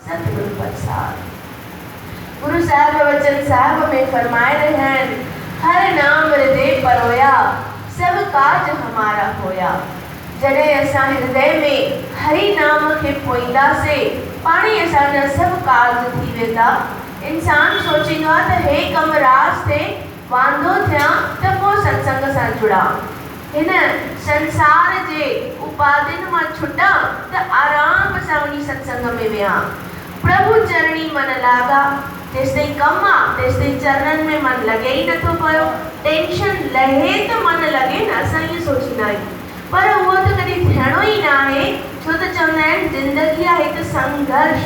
ستر الفت صاحب گرو صاحب وچن صاحب ۾ فرمائي رهيا آهن هر نام هردي پرويا سڀ ڪاج همارا هويا جڏهن اسان هردي ۾ هري نام کي پوئينداسي پاڻ ئي اسان جا سڀ ڪارج ٿي ويندا انسان سوچيندو آهي ته هي ڪم راز ٿي واندو ٿيان ته پوء ستسنگ سان جڙان، هن سنسار جي اپاڌين مان ڇٽان ته آرام سان وڃي ستسنگ ۾ ويهان. پرڀو چرڻي من لاڳا، جيستائين ڪم آ تيستائين چرنن ۾ من لڳي ئي نٿو پيو، ٽينشن لهي ته من لڳي نه اسان ائين سوچيندا آهيون پر اهو ته ڪڏهن ٿيڻو ئي ناهي ڇو ته چوندا آهن زندگي آهي ته سنگهرش،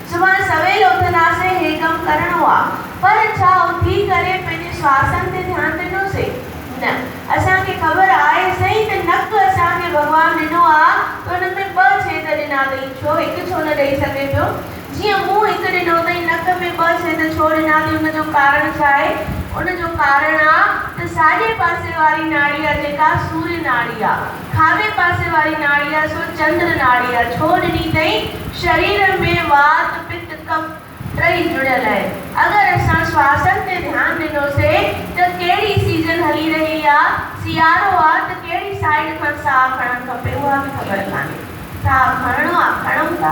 سومر سويل اٿنداسين هي ڪم ڪرڻو آ پر ڇا اٿي ڪري پنهنجي سواسن تي ڌيان ڏنوسين؟ نه. اسان کي خبر آهي سهي ته نڪ اسان کي ڀڳوان ڏنو آ ته ان ۾ ٻه ڇيد ڏنا اٿئي ڇو هڪ ڇو نه ڏئي سگهي پيو؟ جيئن منهن هڪ ڏنو اٿئي نڪ ۾ ٻه ڇيد ڇو ڏنا اٿئي ان جو ڪارڻ ڇا آهي؟ ان جو ڪارڻ آ ته ساڄي پاسي واري ناڙي آ جيڪا سوري ناڙي آ. کاٻي پاسي واري ناڙيء سو چندر ناڙيء ڇو ڏني اٿئين؟ شرير ۾ وات، پت، ڪف ٽئي جڙيل آهن. اگر اسان سواسن تي ڌيان ڏنوسين ته ڪهڙي سيزن هلي رهي آ، سيارو آ ته ڪهڙي سائيڊ کان ساهه کڻڻ کپي اها به خبر ڪانهي. ساهه کڻڻو آ کڻون ٿا،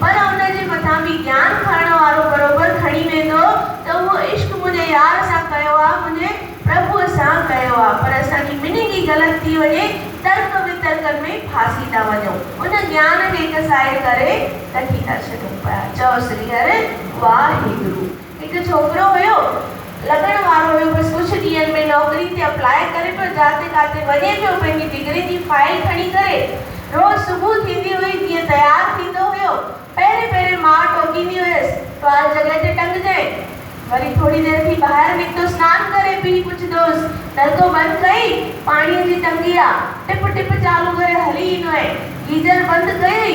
پر ان جي مٿان به جيان کڻڻ وارو بروبر کڻي ويندو ته اهو عشق منهنجي يار سان ڪيو آ منهنجي پرڀوء سان ڪيو آ پر اسان جي ميننگ ئي غلط ٿي وڃي ترڪ وترڪن ۾ ڦاسي ٿا وڃون ان جيان کي ڪسائي ڪري ڪٺي ٿا ڇڏيون پيا چئو سري هر واهي گرو. هڪ ڇوڪرو هيو، لڳڻ وارو هيو، بس ڪجهه ڏينهن ۾ نوڪري تي اپلاء ڪري پيو، جاتي ڪاتي وڃي پيو، پنهنجي ڊگري جي فائيل کڻي ڪري، روز صبح ٿيندي هئي جيئن تيار ٿيندو هيو، پهرين پهرين ماء ٽوڪيندي هيس، ٽوال جڳهه تي ٽنگجانء، وري ٿوري دير ٿي ٻاهر نڪتو سنان ڪري پيء پڇندوهيس، نلڪو بند ڪيئي، پاڻيء جي ٽنڪي آ، ٽپ ٽپ چالو ڪري هلي ايندو ۽ گيزر بند ڪيئي،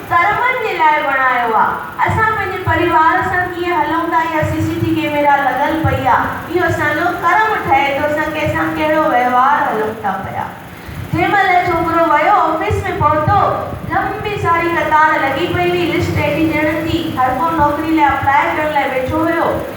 سرمن جي لاء بڻايو آ اسان پنهنجي پريوار سان ڪيئن هلون ٿا يا سي سي ٽي ڪيميرا لڳل پئي آ اهو اسان جو ڪرم ٺهي ٿو اسان ڪنهن سان ڪهڙو وهنوار هلون ٿا پيا جنهن مهل ڇوڪرو ويو آفيس ۾ پهتو لنبي ساري قطار لڳي پئي هئي لسٽ ايڊي ڄڻن جي هرڪو نوڪري لاء اپلاء ڪرڻ لاء ويٺو هيو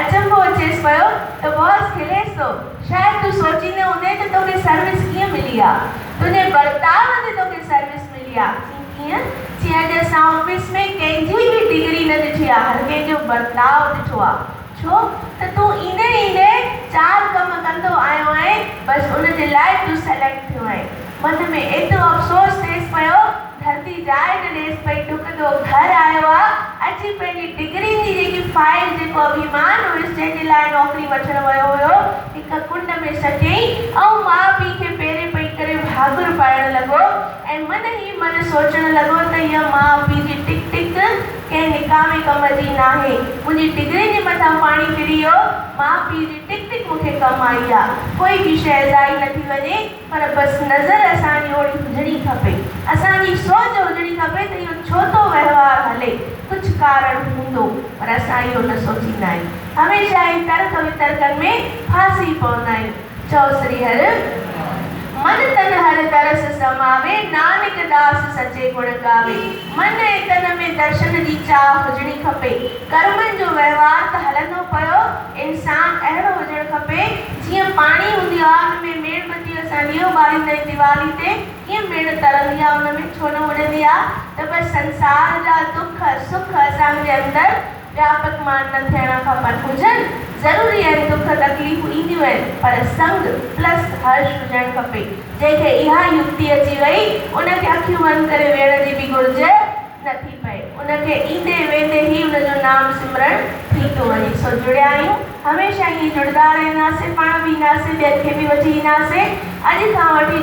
اچنڀو اچيس پيو ته باس کليس ٿو. شايد تون سوچيندي هوندين ته توکي سروس ڪيئن ملي آ. تنهنجي برتاء تي توکي سروس ملي آ. چين ڪيئن؟ چين اڄ اسان آفيس ۾ ڪنهن جي به ڊگري نه ڏٺي آ، هر ڪنهن جو برتاء ڏٺو آ. ڇو ته تون ايندي ايندي چار ڪم ڪندو آيو آهين، بس ان جي لاء تون سليڪٽ ٿيو آهين. من ۾ ايترو افسوس ٿيس پيو ڌرتي جاء نه ڏيس پئي ڊڪندو گهر آيو آ اچي پنهنجي ڊگري جي جيڪي فائيل جيڪو اڀيمان هيس جنهن جي لاء نوڪري وٺڻ ويو هيو هڪ ڪنڊ ۾ سٽيائين ۽ ماء پيء کي پيري پئي ڪري ڀاڳر پائڻ لڳو ۽ من هي من سوچڻ لڳو ته هيء ماء پيء جي ٽڪ ٽڪ ڪنهن نڪامي ڪم جي ناهي منهنجي ڊگري جي مٿان پاڻي ڦري ويو ماء پيء جي ٽڪ ٽڪ مون کي ڪم آئي آ ڪوئي ٻي شيء ضائع نه ٿي وڃي. پر بس نظر اسان جي اوڙي هجڻي کپي، اسان جي سوچ هجڻي کپي ته اهو ڇو ٿو وهنوار هلي، ڪجهه ڪارڻ هوندو، پر اسان اهو نه سوچيندا آهيون، هميشه اهي ترڪ وترڪن ۾ ڦاسي پوندا آهيون. چئو سري هر. من تن هر درس سماوي، نانڪ داس سچي گڻ گاوي. من ۽ تن ۾ درشن جي چاهه هجڻي کپي، ڪرمن جو وهنوار ته هلندو پيو، انسان اهڙو هجڻ کپي جيئن پاڻي هوندي آگ ۾ ميڻ بتيء سان ڏيئو ٻاريندي ۽ ديوالي تي ڪيئن ميڻ تڙندي آ ان ۾ ڇو نه اڙندي آ ته به سنسار جا دک سک اسان جي اندر وياپڪمان نه ٿيڻ کپن هجن ضروري آهن دک تڪليفون اينديون آهن پر سنگ پلس هرش هجڻ کپي جنهن کي اها يڪتي اچي وئي ان کي اکيون بند ڪري ويهڻ جي به گهرج نه ٿي پئي ان کي ايندي ويندي ئي ان جو نام سمرڻ ٿي ٿو وڃي سو جڙيا آهيون هميشه ائين جڙدا رهنداسين پاڻ به اينداسين ٻين کي به وٺي اينداسين اڄ کان وٺي